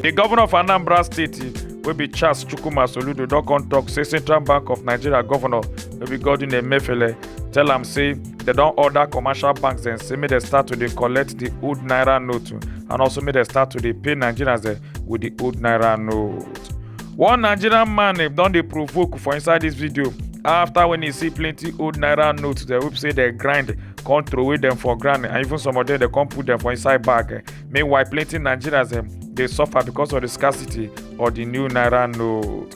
The governor of Anambra State, wey be Charles Chukwuma Soludo, don come talk say Central Bank of Nigeria governor, wey be Godwin Emefiele, tell am say They don order commercial banks dem say make dem start to dey collect the old naira note and also make dem start to dey pay nigerians dem with the old naira note. one nigerian man eh, don dey provoke for inside this video after when he see plenty old naira notes dem wey be say dem grind come throway dem for ground and even some of them dem come put dem for inside bag eh. meanwhile plenty nigerians dem dey suffer because of the scarcity of the new naira note.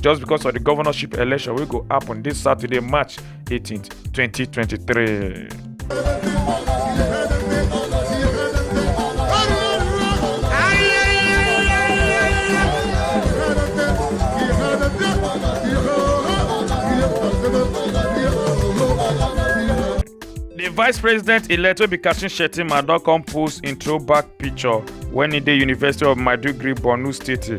just because of the governorship election wey go happen this saturday march 18 2023. The vice president elect Obi Kashin Shettima don come post im throwback picture when he dey University of Maiduguri, Borno State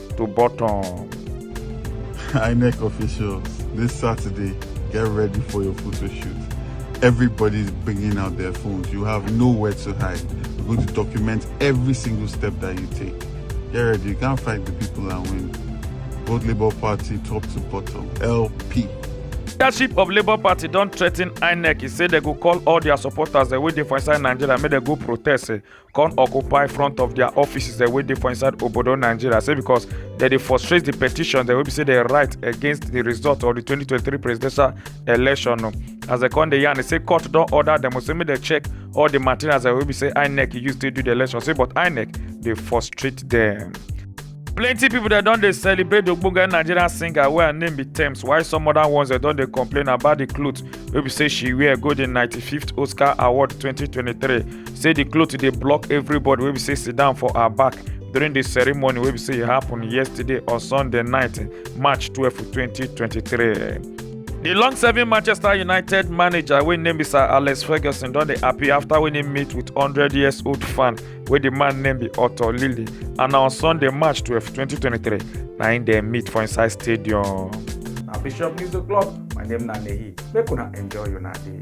to bottom. INEC officials, this Saturday, get ready for your photo shoot. Everybody's bringing out their phones. You have nowhere to hide. We're going to document every single step that you take. Get ready. You can't fight the people and win. Vote Labour Party top to bottom. LP. leadership of labour party don threaten inec e say dem go call all dia supporters dem wey dey for inside nigeria make dem go protest eh, come occupy front of their offices dem wey dey for inside obodo nigeria say because dem dey frustrate the petition dem wey be say dem write against the result of the 2023 presidential election o as dem come dey yarn say court don order dem say make dem check all the materials dem wey be say inec use take do the election say but inec dey frustrate dem. plenty pipo dem don dey celebrate di ogbonge nigerian singer wey her name be tems while some oda ones dem don dey complain about di cloth wey be say she wear go di 95th oscar award 2023 say di cloth dey block everybody wey be say sit down for her back during di ceremony wey be say e happen yesterday on sunday night march 12 2023. di long-serving manchester united manager wey name be sir alex ferguson don dey happy afta wey im meet wit 100 years old fan wey di man name be otto lilly and na on sunday march 12 2023 na im dem meet for inside stadium. na bishop news o'clock my name na nehi make una enjoy una day.